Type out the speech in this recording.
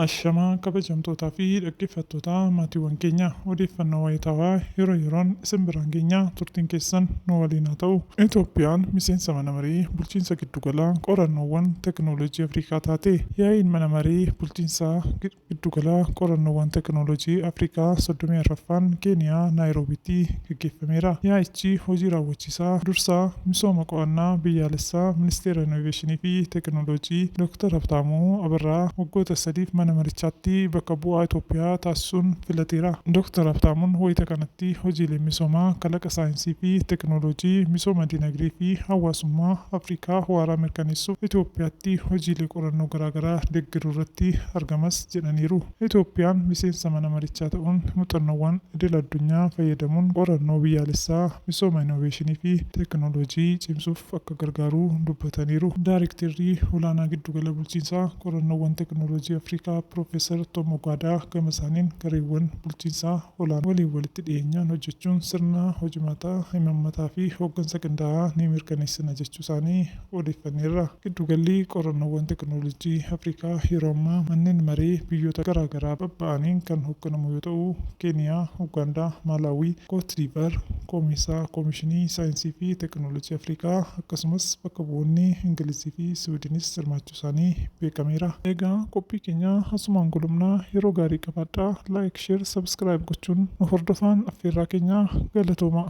Ashamaa kabajamtootaa fi dhaggeeffattootaa maatiiwwan keenya odeeffannoo wayitaawaa yeroo yeroon isin biraan geenya turtiin keessan nu waliin haa ta'u. Itoophiyaan miseensa mana maree bulchiinsa giddu gala qorannoowwan tekinooloojii Afrikaa taate. Yaa'iin mana maree bulchiinsa Giddugala Qorannoowwan Tekinooloojii Afrikaa 34ffaan Keeniyaa Naayiroobiitti gaggeeffameera. Yaa'ichi Hojii Raawwachiisaa Dursaa Misooma Qo'annaa Biyyaalessaa Ministeera Inoveeshinii fi Tekinooloojii Dooktar Habtaamuu Abarraa waggoota sadiif mana marichaatti bakka bu'aa Itoophiyaa taasisuun filateera. Dooktar Habtaamuun wayita kanatti hojiileen misoomaa kalaqa saayinsii fi tekinooloojii misooma dinagdee fi hawaasummaa Afrikaa waaraa mirkaneessuuf Itoophiyaatti hojiilee qorannoo garaa garaa deggeru irratti argamas jedhaniiru. Itoophiyaan miseensa mana marichaa ta'uun muxannoowwan idil addunyaa fayyadamuun qorannoo biyyaalessaa, misooma inooveeshinii fi teekinooloojii cimsuuf akka gargaaru dubbataniiru. Daarekterri olaanaa Giddugala Bulchiinsa Qorannoowwan Teekinooloojii Afrikaa Piroofeesar Toom Ogaadaa gama isaaniin gareewwan bulchiinsa olaanoo waliin walitti dhiyeenyaan hojjechuun sirna hojimaataa, imammataa fi hooggansa qindaa'aa ni mirkaneessina jechuu isaanii odeeffanneerra. Giddugalli Qorannoowwan Tekinoolojii Afrikaa yeroo ammaa manneen maree biyyoota garaa garaa babba'aniin kan hogganamu yoo ta'u, Keeniyaa, Ugaandaa, Maalaawwii, Koot Diivaar, Koomiisaa, Koomishinii Saayinsii fi Tekinoolojii Afrikaa, akkasumas bakka bu'oonni Ingilizii fi Siwiidinis hirmaachuusaanii beekameera. Egaa qophii keenya asumaan golobna. Yeroo gaarii qabaadhaa. Like, Share, Subscribe gochuun nu hordofaan affeerraa keenya. Galatoomaa!